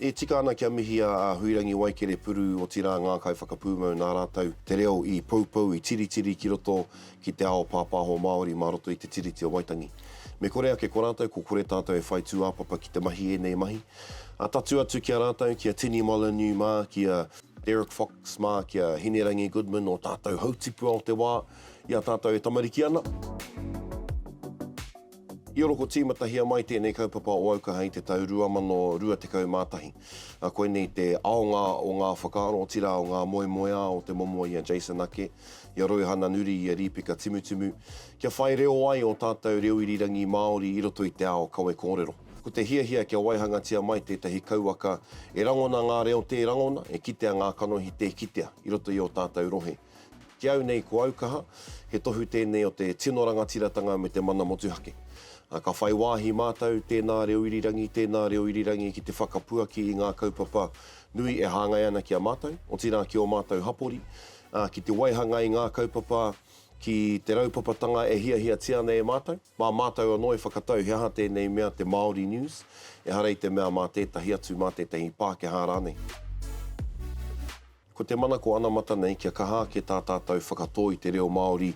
E tika ana kia mihi a Huirangi Waikerepuuru, otirā ngā kaiwhakapūmau nā rātou te reo i poupou, i tiritiri ki roto ki te ao pāpāho Māori mā roto i te Tiriti o Waitangi. Me kore ake ko rātou, ko kore tātou e whai tūāpapa ki te mahi ēnei mahi, A tatū atu ki a rātou, ki a Tini Molyneux mā, ki a Derek Fox mā, ki a Hinerangi Goodman, ō tātou hautipua o te wā, i a tātou e tamariki ana. I oroko tīmatahia mai tēnei kaupapa o Aukaha i te tau 2021. A koinei te aonga o ngā whakaaro, otirā o ngā moemoeā o te momo i a Jason Ake, i a Rouhana Nuri, i a Rīpeka Timutimu, kia whai reo ai ō tātou reo irirangi Māori i roto i te ao kawe kōrero. Ko te hiahia kia waihangatia mai tētahi kauwaka e rangona ngā reo tē rangona, e kitea ngā kanohi tē kitea i roto i ō tātou rohe. Ki au nei ko au kaha, he tohu tēnei o te tino rangatiratanga me te mana motuhake. Ka whai wāhi mātou, tēnā reo irirangi, tēnā reo irirangi ki te whakapuaki i ngā kaupapa nui e hāngai ana ki a mātou, otirā ki ō mātou hapori, ki te waihanga i ngā kaupapa, ki te raupapatanga e hiahiatia ana e mātou. Mā mātou anō e whakatau he aha tēnei mea te Māori News, ehara i te mea mā tētahi atu, mā tētahi Pākehā rānei. Ko te manako anamata nei kia kaha ake tā tātou whakatō i te reo Māori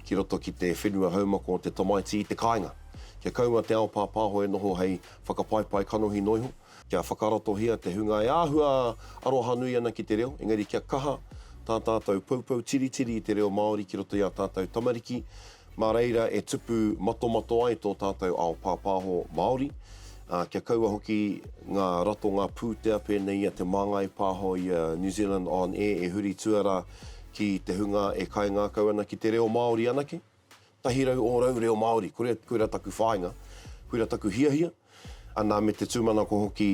ki roto ki te whenua haumako o te tamaiti i te kāinga. Kia kaua te ao pāpāho e noho hei whakapaipai kanohi noa iho, kia whakaratohia te hunga e āhua arohanui ana ki te reo, engari kia kaha tā tātou poupou tiritiri i te reo Māori ki roto i ā tātou tamariki, Mā reira e tupu matomato ai tō tātou ao pāpāho Māori, ā, kia kaua hoki ngā ratonga pūtea pēnei i a Te Māngai Pāho i a New Zealand On Air e huri tuarā ki te hunga e kaingākau ana ki te reo Māori anake. Tahi rau ōrau reo Māori, kore, koira taku whāinga, koira taku hiahia, anā me te tūmanako hoki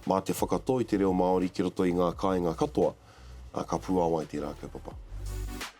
mā te whakatoi te reo Māori ki roto i ngā kāinga katoa, ā, ka puāwai tērā kaupapa.